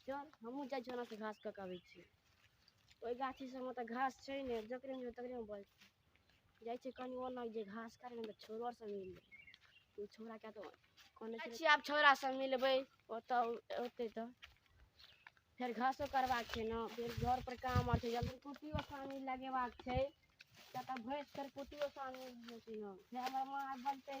चल हमहूँ जाइ छियौ ओन्नसँ घास कऽ कऽ अबै छियौ ओहि गाछी सभमे तऽ घास छै ने जकरे मिल तकरेमे बस जाइ छै कनि ओना जे घास काटि तऽ छोड़ो सब मिल ओ छोड़ा कए तऽ कोने छियै आब छोड़ा सब मिलबै ओतऽ ओतै तऽ फेर घासो करबाक छै ने फेर घर पर काम आर छै जल्दी कुट्टियो सानी लगेबाक छै किया तऽ भैंस फेर कुट्टियो सानी हेतै ने फेर हमर माँ बनतै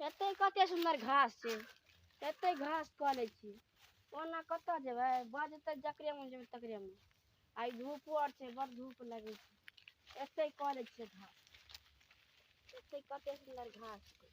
एतै कते सुन्दर घास छै एतै घास कऽ लै छी ओना कतऽ जेबै बजतै जकरे मोन जेबै तकरे मोन आइ धूपो आर छै बड़ धूप लगै छै एतै कऽ लै छियै घास एतै कते सुन्दर घास छै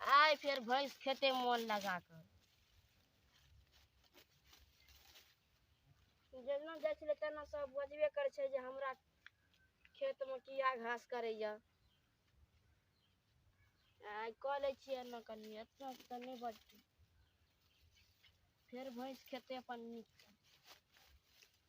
आइ फेर भैंस खेते मोन लगा कऽ जेना जाइ छलै तेना सब बजबे करै छै जे हमरा खेतमे किया घास करैया आइ कऽ लै छियै एना कनि एतना तऽ नहि बजतै फेर भैंस खेते अपन नीक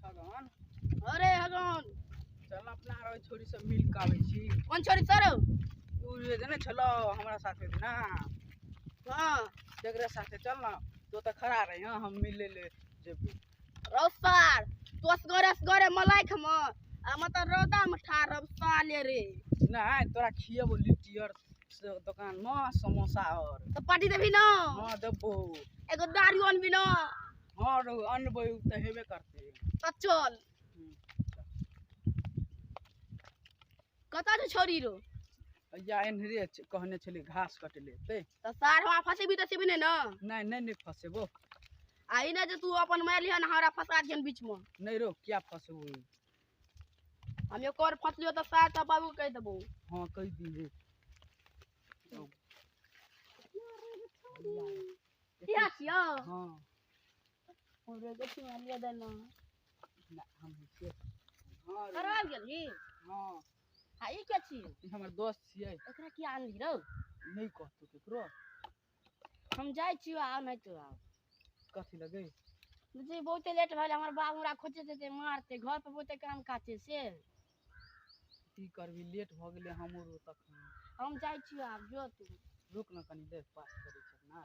छगन अरे हगन चल अपना आरो छोरी सब मिल के आबै छी कोन छोरी सर तू जे देने छलो हमरा साथे ना हाँ जकरा साथे चल ना तो त खड़ा रही हाँ हम मिले ले जेबू रौसार तोस गरस गरे मलाई खम आ मत रौदा में ठार अब साले रे नहीं तोरा खिए वो लिट्टी और से दुकान में समोसा और तो पार्टी देबी ना हाँ देबो एगो दारू अनबी ना हाँ रो अनबो तो हेबे करते तो चल कतऽ छै छौरी रो या एनहरे छ- कहने छलै घास कटे ले ते तऽ सार हमरा फसेबी तऽ सेबी नहि ने नहि नहि नहि फसेबो आ ई नहि जे तू अपन मारि लिहऽ ने हमरा फंसा दिहन बीचमे नहि रो क्या फसेबो हम एक और फंसलियो तऽ सार तऽ बाबू कहि देबो हाँ कहि दी रे इएह छियौ हाँ हमरे के सिवानिया देना ना हम के हां रे करवा गेली हां हां ई के छी ई हमर दोस्त छियै एकरा की आनली रौ नहीं कहतो केकरो हम जाय छी आ नहीं तो आ कथी लगे जी बहुते लेट भेल हमर बाबू हमरा खोजे से ते मारते घर पर बहुते काम काज छै से की करबी लेट भ गेले हमरो तखन हम जाय छी आब जो तू रुक न कनी देर बात करै छै ना